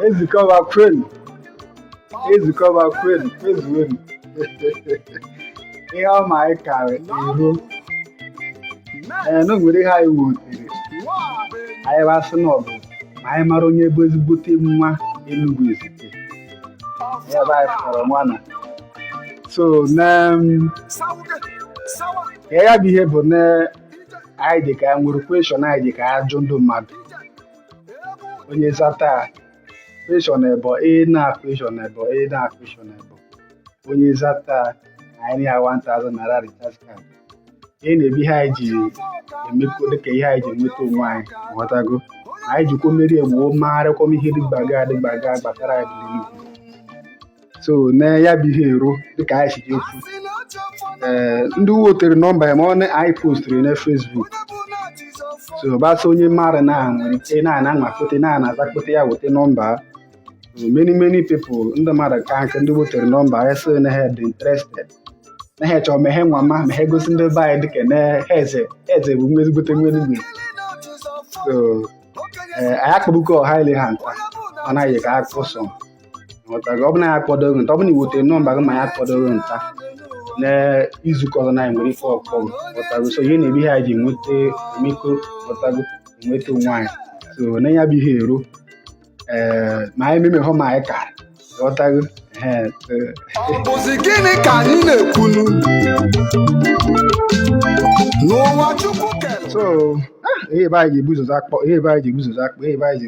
Ezike Ọba kwenu Ezike Ọba kwenu kwezuenu ihe ọma anyị kara ihu ee na o nwere ihe anyị wetere anyị basị na ọ bụ ma anyị mara onye bụ ezigbote nwa Enugu Ezike ebe anyị fọrọ nwa na so na ka ya bụ ihe bụ na anyị dị ka nwere question anyị dị ka ajụ ndụ mmadụ onye zata question ebọ ị na question ebọ ị na question ebọ onye zata anyị nye ya 1000 naira recharge card ihe nwa bụ ihe anyị ji emekọ dịka ihe anyị ji enweta onwe anyị ghọtago anyị jikwa emeri egwu marịkwa ihe dịgbaga adịgbaga gbasara anyị ndị Enugu so na ya bụ ihe eruo dịka anyị si ekwu ee ndị wetere nọmba ya maka na anyị postiri na Facebook so ọbasa onye mmadụ na nwere ike na ana anwakpote na ana azakpote ya weta nọmba many many people ndị mmadụ ka nke ndị wetere nọmba ya sị na ha dị interested na ha chọrọ me ihe nwa ma ma ha egosi ndị be anyị dịka na eze eze bụ nwa ezigbote nwa Enugu so anyị akpọbugo ọha ile ha nta ọ naghị ka akpọsọ ghọtara ọ bụ na ya akpọdoghị nta ọ bụ na i wetere nọmba gị ma ya akpọdoghị nta na izu ụka ọzọ na anyị nwere ike ịkpọ gị ghọtago so ihe nwa bụ ihe anyị ji nweta mmekọ ghọtago nweta onwe anyị so na ya bụ ihe eru ee ma anyị meme hụ ma anyị ka ghọtago ọ bụzi gịnị ka anyị na-ekwunu n'ụwa chukwu kere so ah, ihe ebe anyị ji ebu ụzọ akpọ ihe ebe anyị ji ebu ụzọ akpọ ihe ebe anyị ji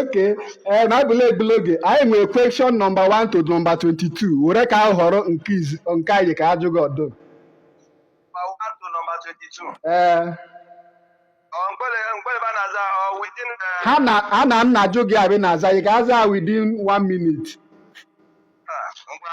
okay eh, na abụla egbula oge anyị nwere question number 1 to number 22 were ka ahọrọ nke izi- nke anyị ka ajụ gị ọ dụ mma one to number 22. ee Ọ mgbele mgbele ba na-aza ọ within the ha na ha na nna ajụ gị abị na-aza ị ga-aza within one minute ah, ngwa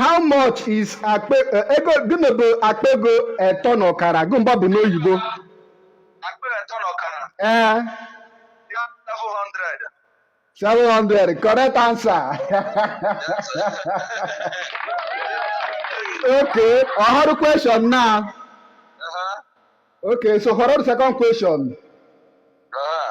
how much is akpa eh, ego gịnị bụ akpa ego etọ na ọkara gwa m ihe ọ bụ n'oyibo akpa etọ na ọkara ee ya 700 700 correct answer okay họrọ question now uh-huh. okay so họrọ the second question uh-huh.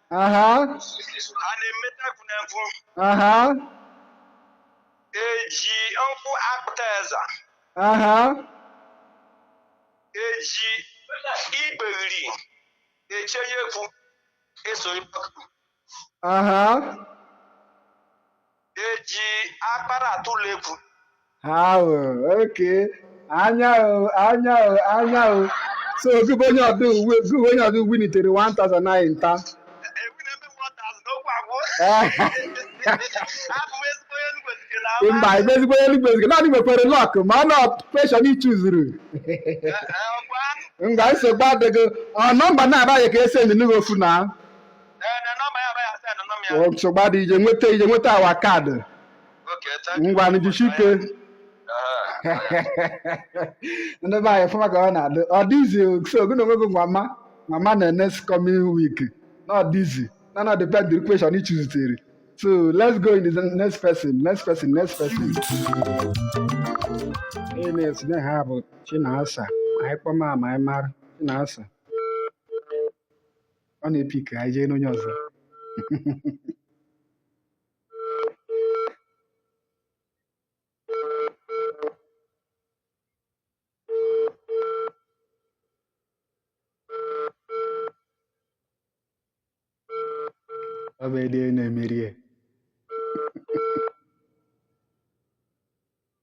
aha ha na-emeta akụ na nkwụ aha eji nkwụ akpụta eza aha eji igbegiri eche ya ekwu eso ịkpọkụ aha eji akpara atụlụ ekwu ahụ ok anya o anya o anya o so gụbụ onye ọdụ uwe gụbụ onye ọdụ winitere 1000 naira nta ewu na-eme m ọta azụ n'okwu agwụ abụ m ezigbo onye Enugu Ezike na ama. mba ebe ezigbo onye Enugu Ezike na ị nwekwere lọk ma ọ na kweshọn ị chuzuru Eh, eh, ọkwa ngwa nsogbu adịghị ọ nọmba na-abaghị ka esi enyi n'ugwu ofu na nsogbu adịghị ije nweta ije nweta awa kaadị ngwa jisike ndị be anyị fụma ka ọ na-adị ọ dịzi so gị na onwe gị mama mama na next coming week na ọ dịzi na na depend the question ị chuzitere so let's go in the next person next person next person onye na-etinye ha bụ Chinasa anyị kpọma ma anyị mara Chinasa ọ na-epik anyị jee n'onye ọzọ ọ bụ ede na-emeri ya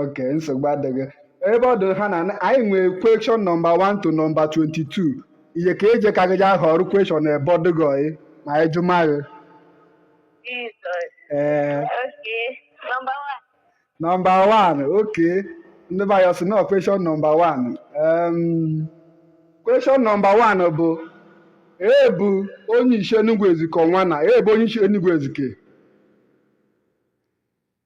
ok nsogbu adịghị ebe ọ dị ha na anyị nwee kweshọn nọmba 1 to nọmba 22 ihe ka eje ka gị ja ahọrọ kweshọn ebe ọ dị gị ọyị ma anyị jụma gị ee nọmba 1 ok ndị be anyị ọ sị na kweshọn nọmba 1 kweshọn nọmba 1 bụ ebu onye isi Enugu Ezike ọnwa na ebu onye isi Enugu Ezike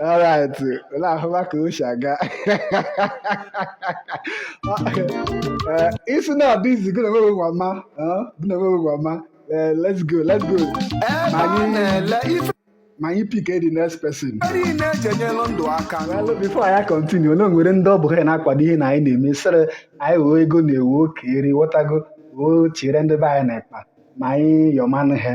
alright unu ahụma ka o si aga Eh, isi na ọ dịzi gị na onwe gị gwa ma eh, gị na onwe gị gwa ma Eh, let's go let's go ebe a Anyị- na-ele ife ma anyị pick the next person niile eji enyelụ ndụ aka Well, before anyị continue na o nwere ndị ọ bụ ha na-akwado ihe na anyị na-eme sịrị anyị wee ego na-ewu oke eri ghọtago woo chere ndị be anyị na-ekpa ma anyị yọmanụ ha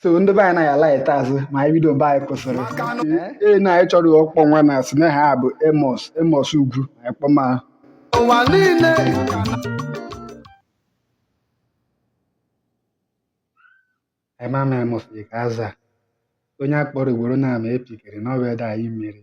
so ndị be anyị na ya laịta azụ ma anyị bido ebe anyị kwụsịrị ee na anyị chọrọ ọkpọ nwa na asị na ha bụ Amos Amos Ugwu anyị kpọma ha ụwa niile anyị ma ma Amos dị ka aza onye a kpọrọ ugboro na ama epikere na ọ bụ ede anyị meri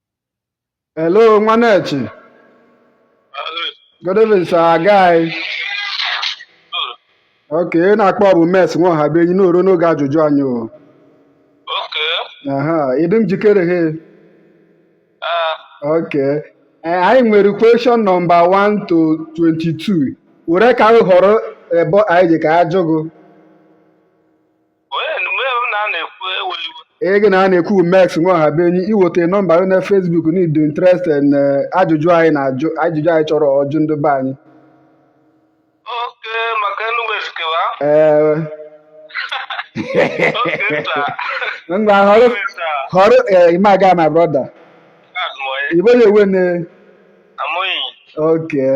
Hello, Nwanechi. Good evening, sir. Guy. Ok, ị na-akpọ ọ bụ Max Nwaọhabụenyi nọrọ n'oge ajụjụ anyị o. Oke, Aha, ị dị njikere he. ah, Ok. Eh, anyị nwere question nọmba 1 to 22. Were eka gị họrọ ebe anyị ji ka ajụ gụ. ee gị na a na-ekwu Max Nwaọhabụenyi i weta nọmba gị na Facebook na ị dị interested na eh, ajụjụ anyị na ajụjụ anyị chọrọ ọjụ ndị be anyị ee ngwa họrọ họrọ eh, imaga my brother ị bụ onye wene okay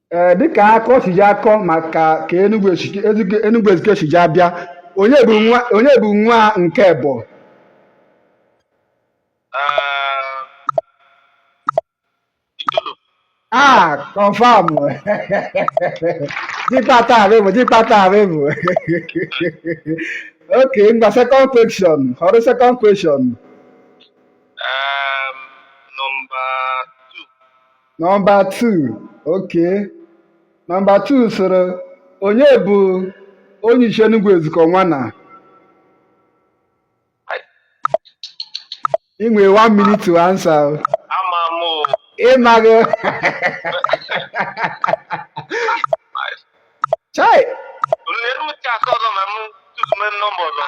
ee dịka akọ si ji akọ maka ka Enugu esi- Enugu- Enugu Ezike si ji abịa onye bụ nwa onye bụ nwa nke ebọ Ah, Itodo. ah confirm dịkpata arịbụ dịkpata arịbụ ok ngwa second question họrọ second question Um, number Nọmba 2 oke nọmba 2 sịrị onye bụ onyishi Enugu Ezike nwana i nwe one minute to answer o. ama m o ị maghị chai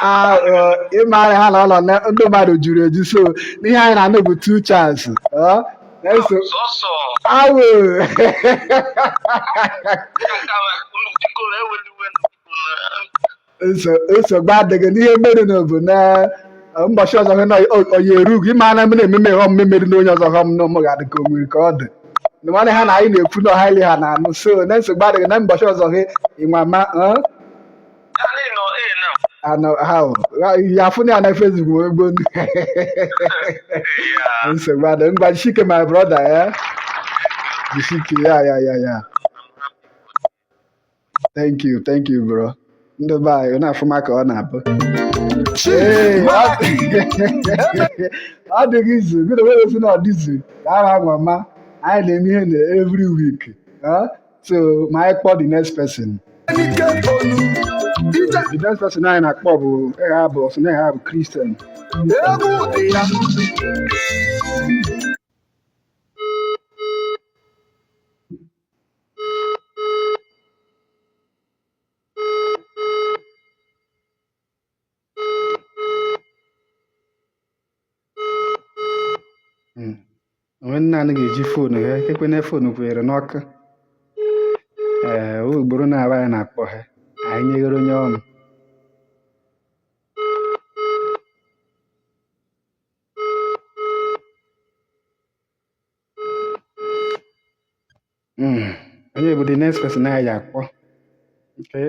ah, uh, ị mara ha na ụlọ ndị mmadụ juru eju so n'ihe anyị na-anụ bụ two chance oh, eso awụ nso- nsogbu adịghị n'ihe mere nụ bụ na eh, ụbọchị ọzọ hụ na ọ- ọ ya eru gị ma na m na-ememe ihe ọmụme mere na onye ọzọ hụ m na ụmụ ga-adị ka o nwere ka ọ dị na nwanne ha na anyị na-ekwu na ọha ile ha na-anụ so na nsogbu adịghị na ụbọchị ọzọ gị ịnwa ma eh, Anyị nọ ee na anọ ha o. Ha- ya afụ na ya na Facebook wee egbo ndị ya nsogbu adịghị ngwa jishike my brother ya jishike ya ya ya ya thank you thank you bro ndị be anyị na-afụma ka ọ na-abụ Ee, ọ- ọ dịghị easy na onye sị na ọ dị easy ka a na-agwa ma anyị na-eme ihe na every week ah, so ma anyị kpọọ the next person Enike Onu, Ije the next person anyị na-akpọ bụ ịgha bụ ọsụ na ịgha bụ Christian egwu dị ya. hmm. onwe nna anyị ga-eji foonu ha ekwena foonu kwere n'ọkụ ee eh, ugboro naabọ anyị na-akpọ ha anyị nyeghere onye ọnụ Hmm. onye bụ the next person anyị ga-akpọ nke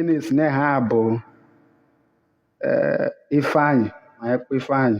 na-asị na aha bụ eh, Ifeanyị ma anyị kpọọ Ifeanyị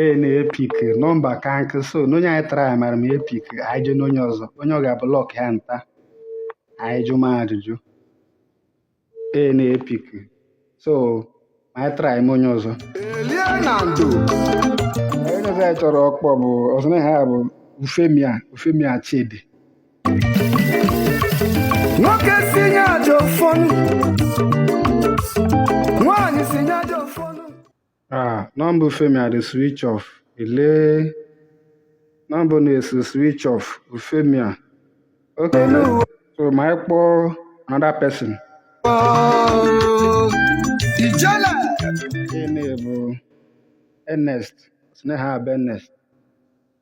ee na-epick nọmba ka nkụ so n'onye anyị try mara m epick anyị jee n'onye ọzọ onye ọ ga-abụ luck ya nta anyị jụma ajụjụ ee na-epick so ma anyị try-ma onye ọzọ onye ọzọ anyị chọrọ ọkpọ bụ ọ sị na aha bụ Euphemia Euphemia Chidi nwoke si nye aja ụfọnụ nwaanyị si nye aja ụfọnụ Ah, number Euphemia dị switch off. Ele number na-asị switch off. Euphemia. Okay. So ma anyị kpọọ another person. ijele onye bụ Ernest. Sị na aha bụ Ernest.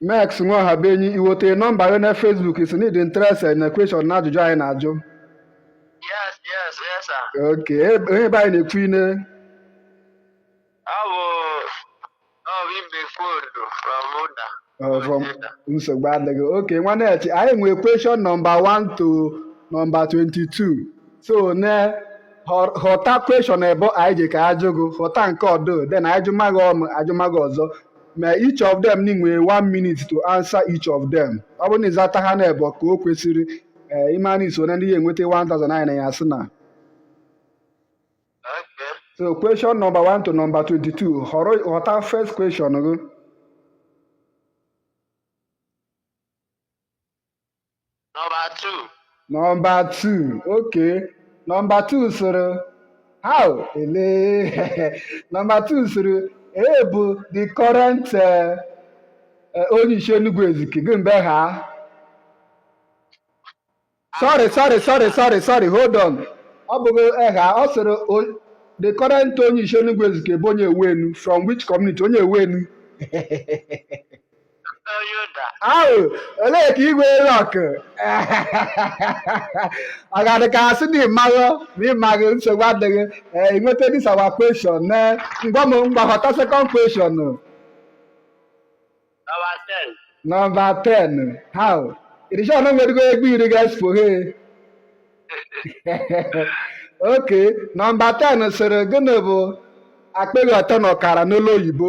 Max Nwahabenyi iweta nọmba gị na Facebook sị na ị dị interested na question na ajụjụ anyị na-ajụ Yes, yes, yes, sir. ok e- onye be anyị na-ekwu ine Ọ bụ ọ bụ ibe foonu from Ụda. uh, from Ụda. nsogbu adịghị ok nwanne echi anyị nwee question nọmba 1 to nọmba 22 so na họ- họta question ebo anyị ji ka ajụ gị họta nke ọdụ then a jụma gị ọmụ a jụma gị ọzọ ma each of them nwee one minute to answer each of them ọ bụrụ na ị zata ha na ebo ka o kwesịrị ee eh, ị mana i so na ndị ya-enweta 1000 naịra sị na so question number 1 to number 22 họrọ họta first question gị Nọmba 2. Nọmba 2. Okay. Nọmba 2 sịrị how ele nọmba 2 sịrị ee bụ the current eh, eh, onye isi Enugu Ezike gịnị bụ eha sorry sorry sorry sorry sorry hold on ọ bụghị eha ọ sịrị o- the current onye isi Enugu Ezike bụ onye ewenụ from which community onye ewenụ ahụ olee ka igwe rọk ọ ga-adị ka asị na ịmaghị ma ịmaghị nsogbu adịghị ee i nweta this our question na ngwa m mgbaghọta second question nọmba 10 how irishọn nwedịgo egwu iri ga-espo he ok nọmba 10 sịrị gịnị bụ akpịghị ọtọ na ọkara n'olu oyibo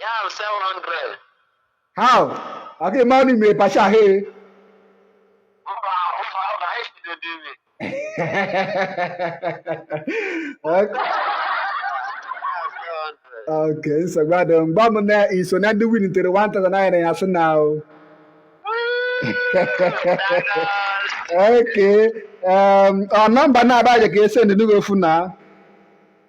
Yam 700. How? I get money me pasha he. Mba, ụzọ ahụ na ha ejide dị ime. Okay. Okay, nsogbu adị mgba m na iso na ndị win tere 1000 naira ya sị na o. Okay. Um, ọ nọmba na-abaghị ka e sendị nugo ofu na.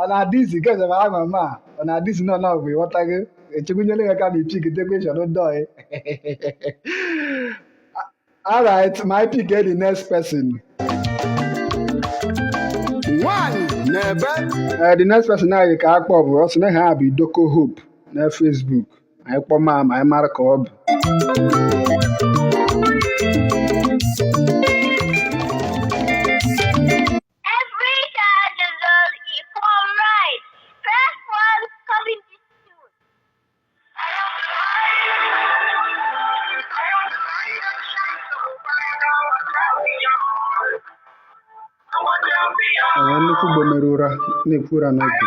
ọ na-adịzi nke ọzọ ama ma ọ na-adịzi nọ na ọgwụ ịghọta gị echekwunyere ya ka na i pick the question dọị alright ma anyị pick the next person nwanyị na-ebe Eh, the next person anyị ka akpọ bụ ọ sị na eha bụ Idoko Hope na Facebook anyị kpọ ma ma anyị mara ka ọ bụ Enwe nnukwu ugbo mere ụra na-ekwu ụra n'oge.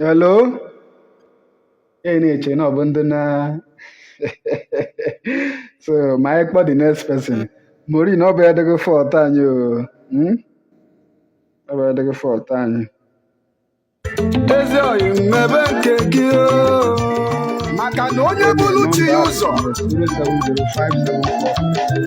Hello? Ị na-eche na ọ bụ ndị na so ma anyị kpọ the next person. Mara na ọ bụ adịghị fault anyị o. Hmm? Ọ bụ adịghị fault anyị. Ezi oyi m mebe nke gị o. Maka na onye buru chi ya ụzọ. 0705074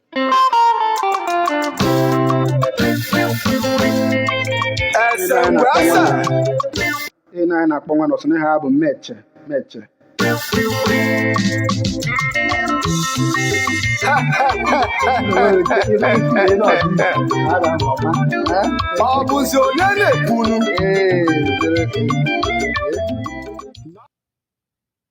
ihe na anyị na-akpọ nwa nọsụ n'ihe ha bụ meche meche ọ bụzi onye na-ekwuru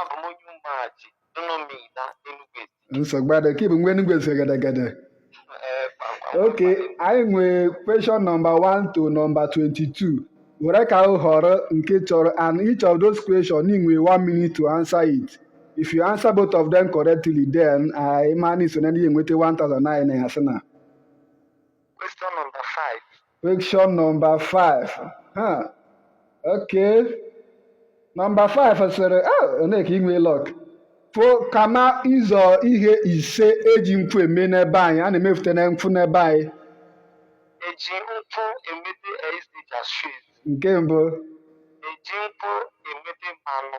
Abụ m onye ụmụaji Dunomi na Enugu Ezike. nsogbu adị ka ị bụ nwa Enugu Ezike gedegede Ee, kpamkpam. ok anyị nwee question nọmba 1 to nọmba 22 were aka họrọ nke ị chọrọ and each of those question ị nwee 1 minute to answer it if you answer both of them correctly then anyị ma na i so na ndị enweta 1000 naira ya sị na Question number five. Question number five. Huh. Okay. Number five sịrị ah, onye ka i nwe luck o kama ụzọ ihe ise eji nkwụ eme n'ebe anyị a na-emefute na nkwụ n'ebe anyị eji nkwụ emete SDG street nke mbụ eji nkwụ emete mmanụ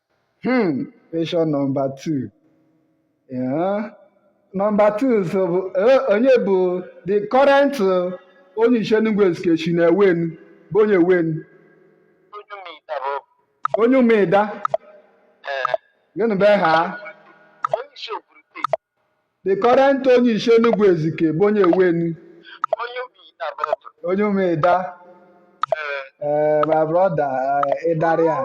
Hmm, question number two. Yeah. Number two so bụ eh, onye bụ the current eh, onye isi Enugu Ezike shi na ewenu bụ onye ewenu onye Ụmụịda bụ onye Ụmụịda ee gịnị bụ aha onye isi obodo steeti The current onye isi Enugu Ezike bụ onye ewenu. Onye Ụmụịda bọtụ. Onye Ụmụịda. Ee. Eh, my brother, eh, ị darị ya.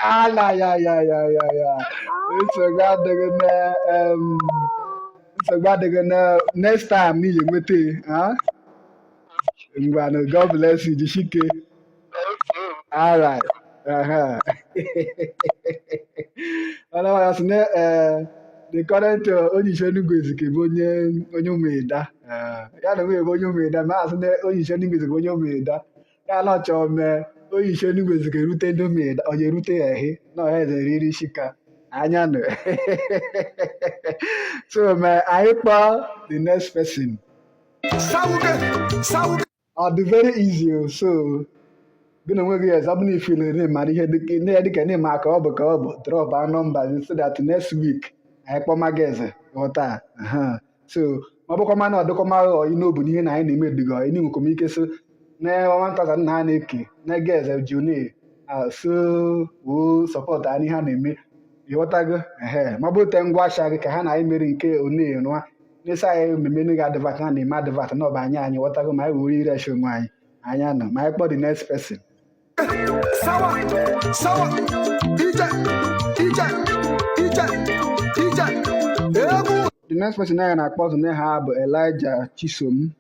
Ala ya ya ya ya ya. Nsogbu adịghị na em, nsogbu adịghị na next time n'ị ya-enweta ya. Ngwanụ, God bless you, jishike. All right. Uh-huh. Otherwise, ne, uh, the current uh, Onyeisi Enugu Ezike bụ onye onye Ụmụịda. Uh, ya na nwunye bụ onye Ụmụịda, ma a sị na Onyeisi Enugu Ezike bụ onye Ụmụịda. Ya na ọ chọ mee Onyeisi Enugu Ezike rute ndị Ụmụịda, ọ ga-erute ya ehi na ọha eze riri isi ka anya nụ. so, ma anyị kpọọ the next person. Sauge, sauge. ọ dị very easy o so gị na onwe gị ọzọ bụ na ị feel na ị mara ihe dịka- na ya dịka na-eme aka ọ bụ ka ọ bụ drọp a nọmba gị so that next week anyị kpọma gị eze ghọta aha. so ọ bụkwa mana ọ dịkwa mara ọyị n'obu n'ihe na anyị na-eme ediga ọyị n'i nwekwa m ike so na 1000 naira a na-eke na gị eze june so woo support anyị ha na-eme ị ghọtago ehe ma bute ngwa asha gị ka ha na anyị mere nke one nwa n'isi anyị mmemme nne gị advert na na-eme advert na ọba anyị anyị ghọtago ma anyị were ire eche onwe anyị anyị anọ ma anyị kpọ the next person sawa sawa ije ije ije ije egwu the next person anyị na-akpọ ọzọ na ha bụ Elijah Chisom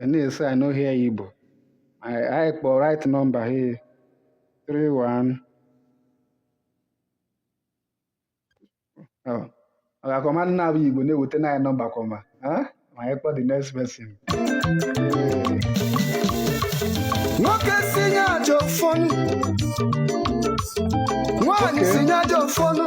And they say I no hear Igbo. I, I for write number here. Three one. Oh. Oga kọma nna bụ Igbo na-eweta na nọmba kọma. Huh? Ma anyị kpọ the next person. nwoke si nye aja ụfọnụ nwaanyị si nye aja ụfọnụ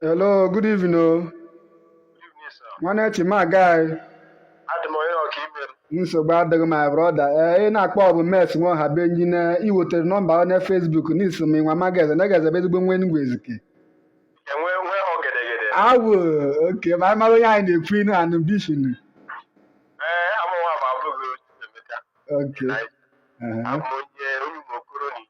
Hello, good evening. o. Good evening, sir. Nwanne chi ị mee aga. Adị m ọyị ọka ibe m. Nsogbu adịghị my brother. Ee, ị na-akpọ ọ bụ Omels nwa ọha be anyị na ị wetere nọmba ọ na Facebook na ị sị m nwama geze na geze bụ ezigbo nwa Enugu Ezike. Enwe nwe ọgedegede. Awụ okay ma anyị mara onye anyị na-ekwu inu anụ bishin. Ee, amụ nwa bụ Abugu Onyemeka. Okay. Anyị aha. abụ onye onye ụmụ okoro na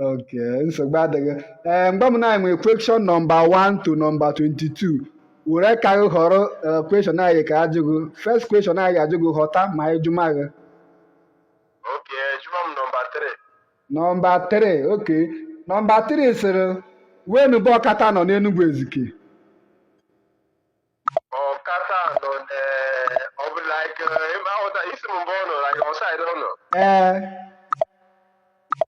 okay nsogbu adịghị ee eh, mgbe m na anyị nwere question nọmba 1 to nọmba 22 were ka gị họrọ eh, question anyị ga-ajụ gị first question anyị ajụ gị ghọta ma ịjụma gị okay jụma m nọmba 3 nọmba 3 okay nọmba 3 sịrị wenu bụ ọkata nọ n'Enugwu Ezike ọkata nọ ọ bụ like eh, ịma isi m mgbe ọ nọ like ọ side ọ nọ ee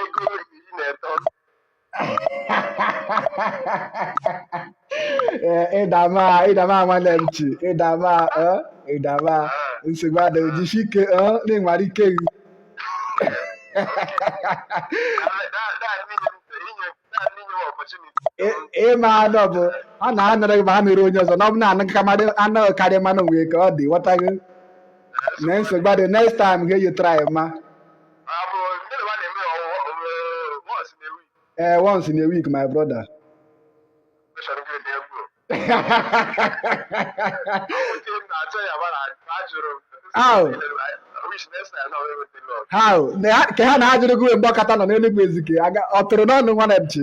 ego iri na eto Eh, ị dama ị dama nwanne m chi ị dama eh, ị dama nsogbu adịghị jisie ike eh, na ị nwara ike gị Ị- ịma anụ bụ ọ na anara gị ma ha mere onye ọzọ na ọ bụ na anụ ka mmadụ anụ karịa mmanụ nwere ka ọ dị ghọtago na nsogbu adịghị next time ga-eyi try ma ee eh, once in a week my brother how how ka ha na-ajụrụ gị mgbe ọkata nọ n'Enugu Ezike ọ tụrụ n'ọnụ nwanne m chi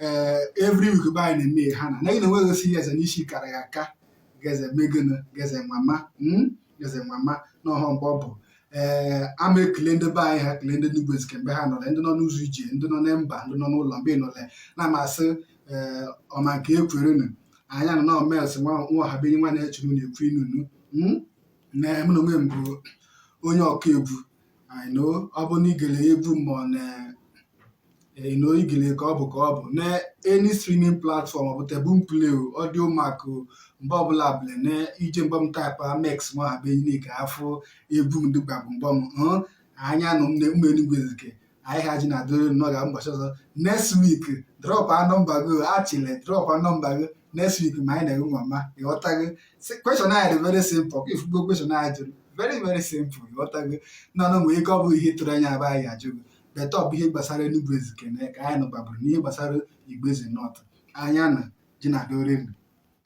ee every week be anyị na-eme ha na naghị na enweghị osi ya eze n'isi kara ya aka geze megịnụ geze nwama mm, geze nwama na ọhọ mgbe ọ bụ ee ama ekele ndị be anyị ha ekele ndị Enugu Ezike mgbe ha nọle ndị nọ n'ụzọ ije ndị nọ na mba ndị nọ n'ụlọ mgbe ị nọle na-amasị ee ọma nke ekwerenu anyị anọ na omels nwa nwa ọha be anyị nwanne chi unu na-ekwu inunu mm, na mụ na onwe m bụ onye ọka egwu I know ọ bụ na igele egwu m ọ na I know igele ka ọ bụ ka ọ bụ na any streaming platform ọ bụ the Boomplay o Audiomack o mgbe ọbụla bụla na ije mgbe m taịpụ amex ma ha be niile ka afụ egwu m dịkwa bụ mgbe m hụ anya nụ m na ụmụ Enugu Ezike anyị ha ji na-adịrị nnọọ ga ụbọchị ọzọ next week dropụa number gị achịle dropụa number gị next week ma anyị na-enwe mama ịghọtago question anyị dị very simple ka ịfụgo question anyị jụrụ very very simple ịghọtago nọnụ nwee ike ọ bụ ihe tụrụ anya aba anyị ajụgo but ọ bụ ihe gbasara Enugu Ezike na ka anyị nụbabụrụ n'ihe gbasara Igbo Eze North anya na ji na-adị oriri